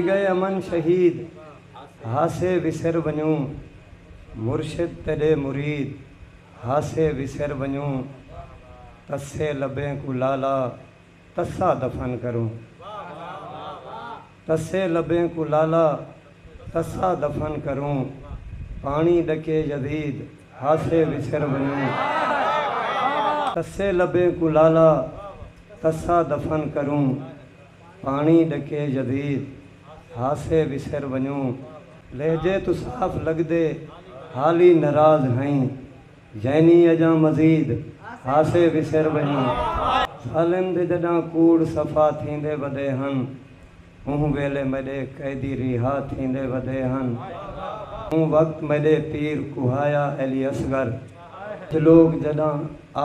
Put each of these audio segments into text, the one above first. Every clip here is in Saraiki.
ڳئے امن شہید ہاسے وسر ونڄوں مرشد تیݙے مرید ہاسے وسر ونڄوں تسے لبیں کوں لالا تسا دفن کروں تسے لبیں کوں لالا تسا دفن کروں پاݨی ݙکے یزید ہاسے وسر ونڄوں تسے لبیں کوں لالا تسا دفن کروں پاݨی ݙکے یزید ہاسے وسر ونڄوں لہجے توں صاف لڳدے حالی نراض ہئیں یعنی اڄاں مزید ہاسے وسر ونڄوں سالم دے جݙاں کوڑ صفا تھیندے ودے ہن اوں ویلے میݙے قیدی ریہا تھیندے ودے ہن اوں وقت میݙے پیر کوہایا علی اصغر تے لوک جݙاں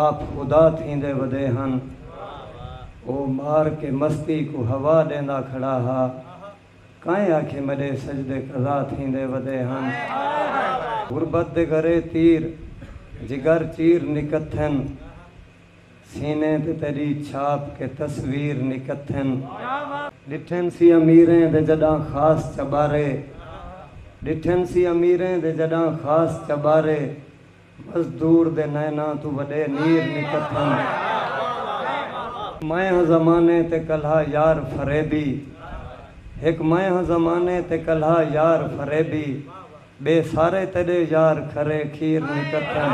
آپ خدا تھیندے ودے ہن۔ او مار کے مستی کوں ہوا ݙیندا کھڑا ہا۔ کائیں آکھے مݙے سجدے قضا تھیندے ودے ہن۔ غربت دے گھرے تیر جگر چیر نکتھن۔ سینے تے تیڈی چھاپ کے تصویر نکتھن ڈٹھن سی امیریں دے جڈاں خاص چبارے ڈٹھن سی امیریں دے جڈاں خاص چبارے مزدور دے نیناں توں وڈے نیر نکتھن۔ میں ہاں زمانے تے کلہا یار فریبی ہک میں ہاں زمانے تے کلہا یار فریبی۔ ٻئے سارے تیݙے یار کھرے کھیر نکتن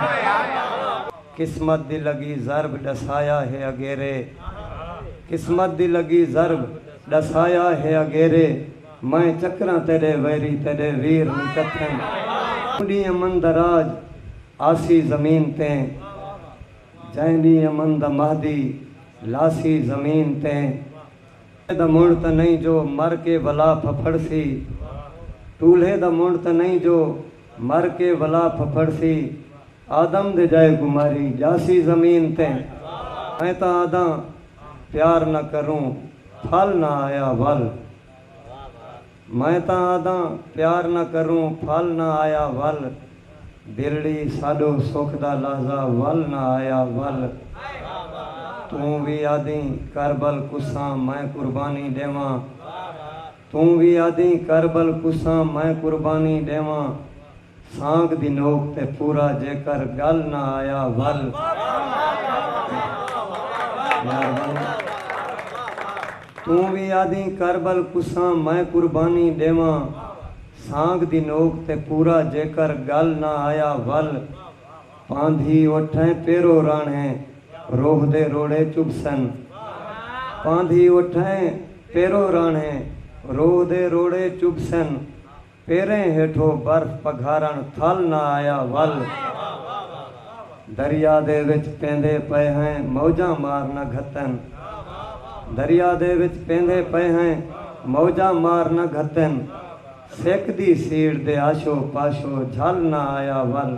قسمت دی لڳی ضرب ݙسایا ہے اگیرے قسمت دی لڳی ضرب ݙسایا ہے اگیرے میں چکراں تیݙے ویری تیݙے ویر نکتن جئیں ݙینہہ امن دا راج آسی زمین تے جئیں ݙینہہ امن دا مہدی لاسی زمین تے۔ دا منڑ تاں نئیں جو مر کے ولا پھپھڑسی ٹولھے دا منڑ تاں نئیں جو مر کے ولا پھپھڑسی آدم دے جائے کوں ماری جاسی زمین تے میں تاں آدھاں پیار نہ کروں پھل نہ آیا ول۔ میں تاں آہداں پیار نہ کروں پھل نہ آیا ول دلڑی ساڈو سکھ دا لحظہ ول نہ آیا ول توں وی آہدیں کربل کساں میں قربانی ڈیواں توں وی آہدیں کربل کساں میں قربانی ڈیواں سانگ دی نوک تے پورا جیکر گل نہ آیا ول یار ول توں وی آدھیں کربل کساں میں قربانی ڈیواں سانگ دی نوک تے پورا جیکر گل نہ آیا ول پاندھی اٹھیں پیرو رانھیں روہ دے روڑے چبھسن پاندھی اٹھیں پیرو رانھیں روہ دے روڑے چبھسن۔ پیریں ہیٹھو برف پگھارن تھل نہ آیا ول دریا دے وچ پیندے پئے ہیں موجاں مار نہ گھتن دریا دے وچ پیندے پئے ہیں موجاں مار نہ گھتن سک دی سیڑھ دے آشو پاشو جھل نہ آیا ول۔